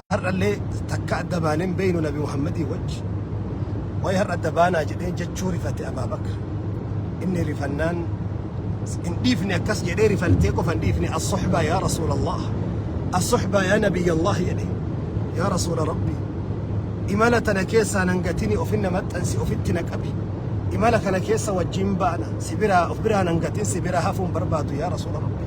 Har'allee takka adda baanee hin beeynu Nabi Muhammadii wajji. Way har'a adda baanaa jedhee jechuu rifate Abaabakr. Inni rifannaan hin dhiifne akkas jedhee rifaltee qofa hin dhiifne as-suhbaa yaa Rasuulallah. As-suhbaa yaa Nabiyyallah jedhe. Yaa Rasuula Rabbii. Imala tana keessaa nan gatini ofinna maxxansi ofitti na qabi. Imala kana keessa wajjin baana. Si biraa of biraa nan gatin si biraa hafuun barbaadu yaa Rasuula Rabbii.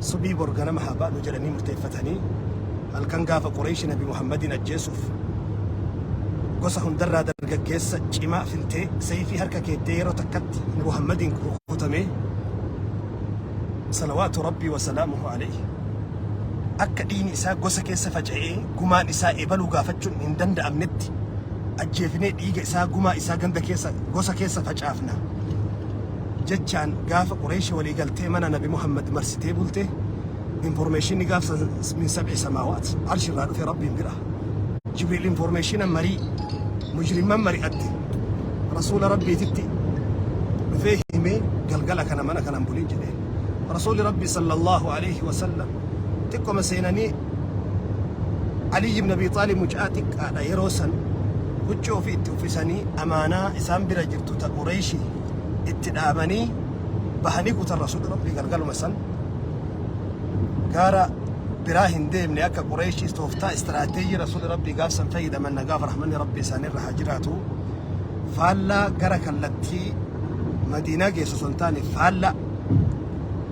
Subii bor ganama haa baanu jedhanii murteeffatanii halkan gaafa Qureeshi Nabi Muhammadiin ajjeesuuf gosa hundarraa dargaggeessa cimaa filtee seeyfii harka keettee yeroo takkatti Nabi Muhammadiin rukutamee salawaatu rabbii wasalaamuhu alayhi akka dhiini isaa gosa keessa faca'ee gumaan isaa ebaluu gaafachuun hin danda'amnetti ajjeefnee dhiiga isaa gumaa isaa ganda keessa gosa keessa facaafna jechaan gaafa Qureeshi walii galtee mana Nabi Muhammad marsitee bulte informeeshinni gaafsa min sab'i samaawaat arshi irraa dhufe Rabbiin bira. Jibriil informeeshina marii mujrimman mari'atte rasuula Rabbiititti dhufee himee galgala kana mana kanan bulin jedheen. Rasuuli Rabbi sallallahu alayhi wa sallam xiqqoma seenanii Aliyyi ibn Abi Xaalib mucaa xiqqaadha yeroo san huccuu ofii itti uffisanii amaanaa isaan bira jirtu ta Qureeshi itti dhaamanii bahanii kutan rasuulli rabbii galgaluma san gaara biraa hin deemne akka qureeshii tooftaa istiraateejii rasuulli rabbii gaafsan fayyadaman nagaaf rahmanni rabbii isaanirra haa jiraatu faallaa gara kallattii madiinaa geessu osoo hin taane faallaa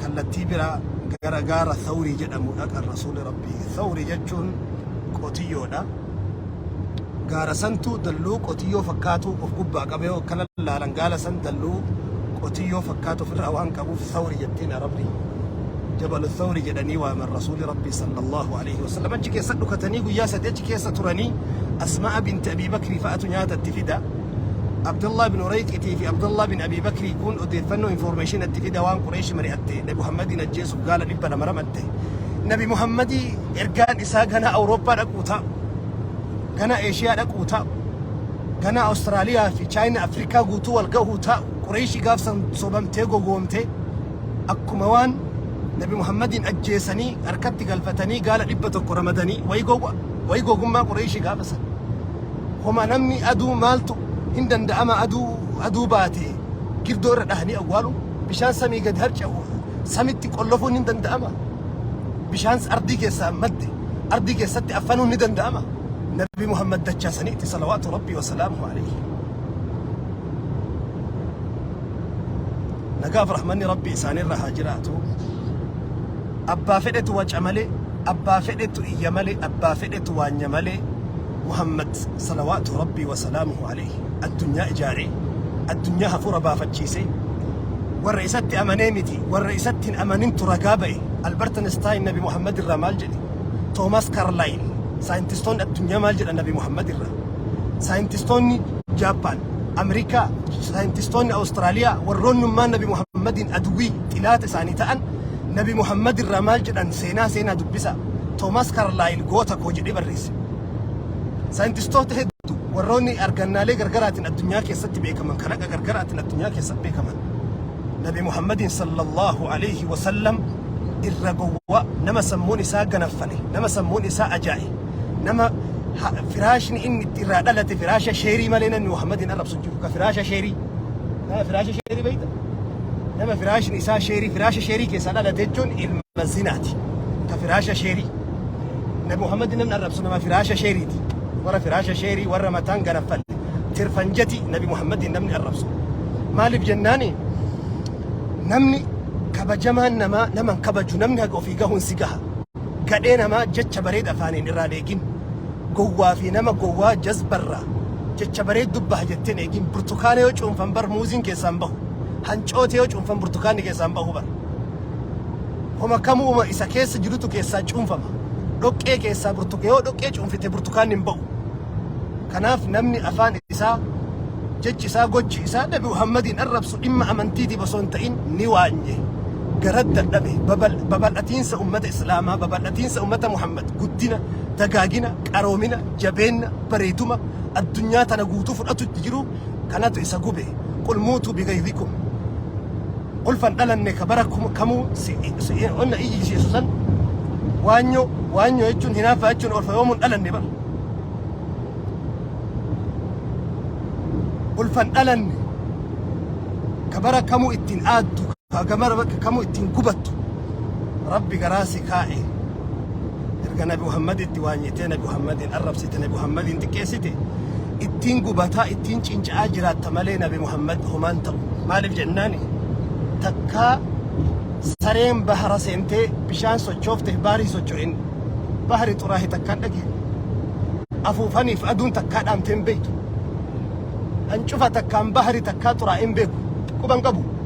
kallattii biraa gara gaara thawrii jedhamu dhaqan rasuulli rabbii thawrii jechuun qotiyyoodha gaara santu dalluu qotiyyoo fakkaatu of gubbaa qabee akka lallaalan gaala san dalluu qotiyyoo fakkaatu ofirraa waan qabuuf sawri jettiin arabni jabalu sawri jedhanii waaman rasuuli rabbii sallallahu alaihi wasallam achi keessa dhukatanii guyyaa sadii achi keessa turanii asma'a binti abii bakrii fa'atu nyaata itti fida abdullah bin urayqitii fi abdullah bin abii bakrii kun odeeffannoo information itti fida waan qureeshi mari'atte nabi muhammadiin ajjeesuuf gaala dhibba lama ramatte nabi muhammadii ergaan Isaa ganaa Awurooppaa dhaquu ta'a. Ganaa Eeshiyaa dhaquu ta'a. Ganaa Awustiraaliyaa fi Chaayina Afrikaa guutuu wal gahuu ta'a. Qureeshii gaafsan sobamtee gogoomtee akkuma waan Nabi Muhammadiin ajjeesanii harkatti galfatanii gaala dhibba tokko ramadanii wayi gowwa wayi gogummaa Qureeshii gaafasa. Homa namni aduu maaltu hin danda'ama aduu aduu baate girdoo irra dhahanii awwaalu. Bishaan samii gad harca'u samitti qollofuun ni danda'ama. Bishaan ardii keessaa madde ardii keessatti affanuun ni danda'ama. Nabi Muhammad dachaa saniitti salawaatu rabbii wasalaamu alayhi. Nagaaf rahmanni rabbii isaanirra haa jiraatu. Abbaa fedhetu waca malee, abbaa fedhetu iyya malee, abbaa fedhetu waanya malee. Muhammad salawaatu Rabbii wa salaamuhu alayhi addunyaa ijaaree addunyaa hafuura baafachiisee warra isatti amanee miti warra isatti hin amanintu ragaa ba'e Albert Einstein Nabi Muhammad irraa maal jedhe Thomas Carlyle saayintistoonni addunyaa maal jedhan Nabi Muhammad irraa saayintistoonni Jaappaan Ameerikaa saayintistoonni Awustiraaliyaa warroonnummaan Nabi Muhammadiin aduwii xilaata isaanii ta'an Nabi Muhammad irraa maal jedhan seenaa seenaa dubbisa Thomas Carlyle goota koo jedhee barreesse Saayintistoota hedduu warroonni argannaalee gargaraatiin addunyaa keessatti beekaman kalaqa gargaraatiin addunyaa keessatti beekaman Nabi Muhammadiin sallallahu alayhi wa sallam irra gowwaa nama sammuun isaa ganaffale nama sammuun isaa ajaa'i nama ha- firaashni inni itti irraa dhalate firaasha sheerii malee namni Muhammadiin arrabsu hin jiru ka firaasha sheerii nama firaasha sheerii beekta nama firaashni isaa sheerii firaasha sheerii keessaa dhalate jechuun ilma zinaati ka firaasha sheerii Nabi Muhammad namni arrabsu nama firaasha sheeriiti. Warra firaasha sheerii warra mataan garaffalle tirfan jeti Nabi Muhammad namni arrabsu. Maaliif jennaani namni kabajamaan namaa nama hin kabaju namni haga ofii gahuun si gaha. Gadhee namaa jecha bareeda afaaniin irraan eegin. Gowwaa fi nama gowwaa jazbarraa jecha bareed dubbaha jetteen eegin. Burtukaana yoo cuunfan bar muuziin keessaan bahu. Hancoote yoo cuunfan burtukaanni keessaan bahu bar. homa kamuu homa isa keessa jirutu keessaa cuunfama. Dhoqqee keessaa burtuka yoo dhoqqee cuunfite burtukaanni hin ba'u. Kanaaf namni afaan isaa jechi isaa gochi isaa Nabi Muhammadiin arrabsu dhimma amantiitiif osoo hin ta'in ni waanye. Gara dadhabe babal- babal'atiinsa ummata Islaamaa, babal'atiinsa ummata Muhammad, guddina, dagaagina, qaroomina, jabeenna, bareeduma addunyaa tana guutuu fudhatutti jiru kanatu isa gube qul muutuu bigaydikum ulfan dhalanne ka bara kum- kamuu si- si- onna iyyisiisu san waanyoo waanyoo jechuun hinaaffaa jechuun ulfa yoomuun dhalanne bara ulfan dhalanne ka bara kamuu ittiin aaddu Haga mara bakka kamuu itti hin gubattu. Rabbi garaa si kaa'e. Erga Nabi Muhammaditti waanyitee, Nabi Muhammadiin arrabsite, Nabi Muhammadiin xiqqeessite, ittiin gubataa, ittiin cinca'aa jiraatta malee Nabi Muhammad homaan ta'u. Maaliif jennaani? Takkaa sareen bahara seentee bishaan sochoofte baarii socho'in bahari xuraahe takkaan dhageenye. Afuufaniif aduun takkaa dhaamtee hin beektu. Hancufa takkaan bahari takkaa xuraa'ee hin beeku. Quban qabu.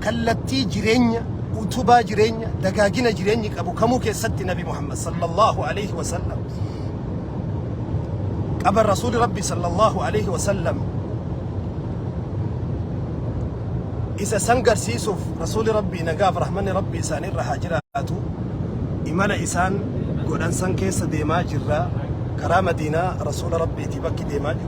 Kallattii jireenya, utubaa jireenya, dagaagina jireenyi qabu kamuu keessatti Nabi Muhammad sallallahu aleyhi wa sallam qaba Rasuuli Rabbi sallallahu aleyhi wa sallam isa san garsiisuuf Rasuuli Rabbi nagaaf rahmanni Rabbi isaanirra haa jiraatu imala isaan godhan san keessa deemaa jirra karaa Madiinaa Rasuula Rabbiiti bakki deemaa jirru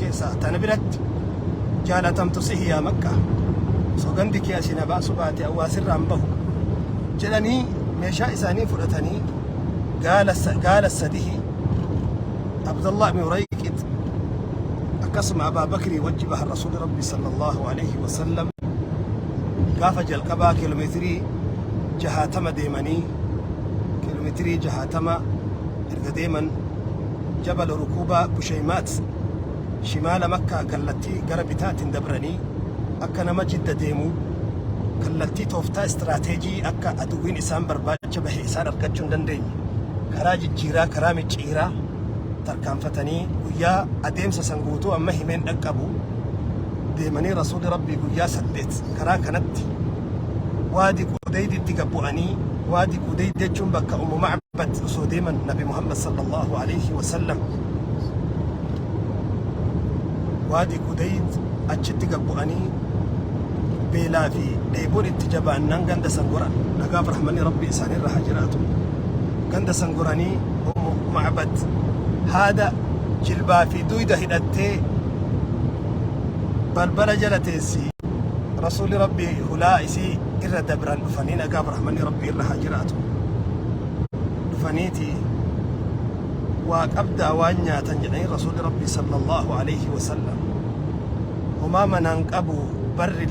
keessaa tana biratti jaalatamtu sihi yaa makkaa sogandi kee asii na baasu baate awwaasirraa hin bahu jedhanii meeshaa isaanii fudhatanii gaala sa- gaala sadihi abdallah ibn urayqit akkasuma abaa bakrii wajji bahan rasuuli rabbi sallallahu alaihi wasallam gaafa jalqabaa kiiloomeetirii jahaatama deemanii kiiloomeetirii jahaatama erga deeman Jabal Rukuubaa Busheymaat shimaala Makkaa kallattii gara bitaatiin dabranii akka nama Jidda deemu kallattii tooftaa istiraateejii akka aduwwiin isaan barbaacha bahe isaan argachuu hin dandeenye karaa jijjiiraa karaa micciiraa tarkaanfatanii guyyaa adeemsa san guutuu amma himeen dhaqqabu deemanii rasuulli rabbii guyyaa saddeet karaa kanatti waadi qudeyditti gabbu'anii waadi qudeyd jechuun bakka ummu Batti osoo deeman Nabi Muhammad sallallahu alayhi wa sallam waadi Qudayd achitti gad bu'anii beelaa fi dheeboon itti jabaannaan ganda san goran nagaaf rahmanni rabbi isaanirra haa jiraatu ganda san goranii ummu ma'bad haada jilbaa fi duyda hidhattee balbala jala teessi rasuulli rabbi hulaa isii irra dabran dhufanii nagaa birahmanii rabbii irra haa jiraatu dhufaniiti waa qabdaa waan nyaatan jedhanii rasuuli rabbii sallallahu alayhi wasallam homaa manaan qabu barri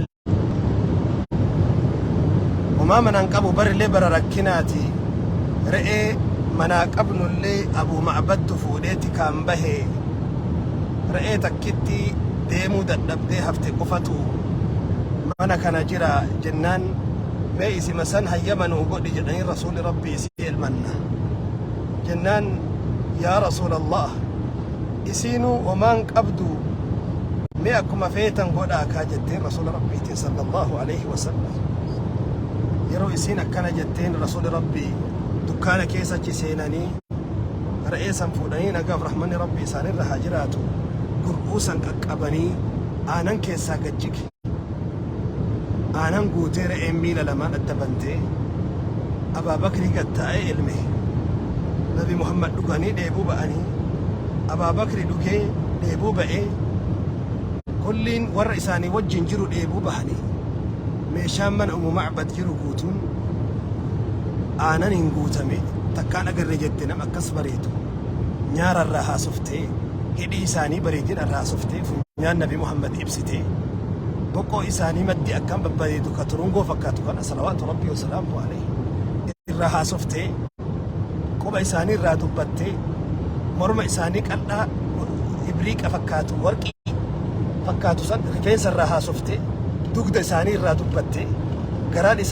homaa manaan qabu barrillee bara rakkinaati re'ee manaa qabnullee abuu ma'abattu fuudheeti kaan bahee re'ee takkitti deemuu dadhabdee hafte qofatu mana kana jira jennaan mee isima san hayyama nuu godhi jedhanii rasuuli rabbii isii elmanna jennaan yaa rasuula allah isiinuu omaan qabdu mee akkuma feetan godhaa kaa jetteen rasuula rabbiitiin sallallahu alaihi wasallam yeroo isiin akkana jetteen rasuuli rabbii dukkaana keessachi seenanii Re'ee san fuudhanii nagaaf rahmanni Rabbii isaanirra haa jiraatu gurbuu san qaqqabanii aanan keessaa gad jige. Aanan guutee re'een miila lamaan adda bantee Abaa Bakrii gad taa'ee elme. Nabi Muhammad dhuganii dheebuu ba'anii Abaa Bakri dhugee dheebuu ba'ee kulliin warra isaanii wajjin jiru dheebuu bahanii meeshaan mana Umu Macbad jiru guutuun aananiin guutame. takkaan agarre jette nam akkas bareedu nyaara irraa haasoftee hidhii isaanii bareedina irraa haasoftee funyaan nabi muhammad ibsitee boqoo isaanii maddi akkaan babbareedu ka turungoo fakkaatu kana salawaatu rabbii wasalaamu alayhi irraa haasoftee quba isaanii irraa dubbattee morma isaanii qal'aa ibriiqa fakkaatu warqii fakkaatu san rifeensa irraa haasoftee dugda isaanii irraa dubbattee garaan isaanii